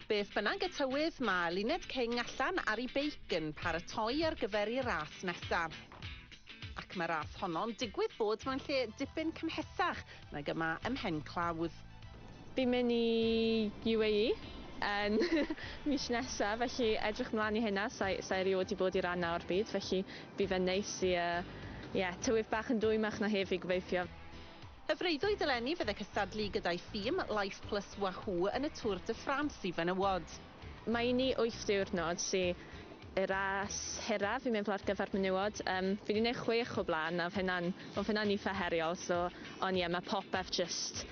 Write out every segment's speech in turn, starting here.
Beth bynnag y tywydd, mae Luned King allan ar ei beic yn paratoi ar gyfer ei ras nesaf. Ac mae ras honno'n digwydd bod mewn lle dipyn cymhesach nag yma ym Mhen Clawdd. Fi'n mynd i UAE yn mis nesaf, felly edrych mlaen i hynna, sa i, sa i rioed wedi bod i ran 'na o'r byd, felly bydd e'n neis i yy ie, tywydd bach yn dwymach na heddi gobeithio. Y freuddwyd eleni fydd y cystadlu gyda'i thîm, Life Plus Wahoo, yn y Tour de France i fenywod. Mae un i wyth diwrnod sy y ras hiraf i meddwl ar gyfer menywod. Yym fi 'di neud chwech o blaen a odd hynna'n odd hynna'n itha heriol so on' ie ma' popeth jyst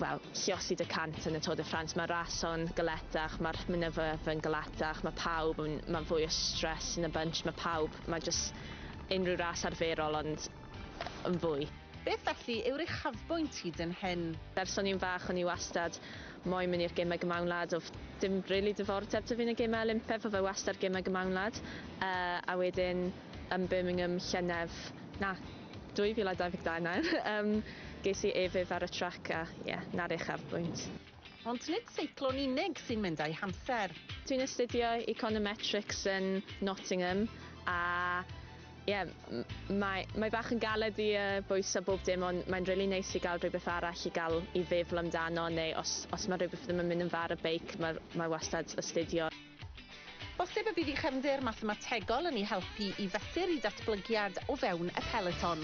wel lliosi dy cant yn y Tour de France ma'r ras on galetach ma'r mynyddoedd yn galetach ma' pawb yn ma'n fwy o stress yn y bunch ma' pawb ma' jyst unrhyw ras arferol ond yn fwy. Beth felly yw'r uchafbwynt hyd yn hyn? Ers o'n i'n fach o'n i wastad moyn mynd i'r gemau gymawnlad, oedd dim rili diddordeb 'da fi yn y gemau Olympedd, oedd e wastad gemau gymawnlad. Yy a wedyn yn Birmingham llynedd, na, 2022 nawr, yym ges i e-fydd ar y trac a ie, 'na'r uchafbwynt. Ond nid seiclo'n unig sy'n mynd â'i hamser. Dwi'n astudio Econometrics yn Nottingham a ie, mae, mae bach yn galed i uh, bwysa bob dim ond mae'n really neis nice i gael rhywbeth arall i gael i feddwl amdano neu os, os mae rhywbeth ddim yn mynd yn far y beic mae, mae wastad astudio. Bosib y bydd i chefndir mathemategol yn ei helpu i fesur i datblygiad o fewn y peleton.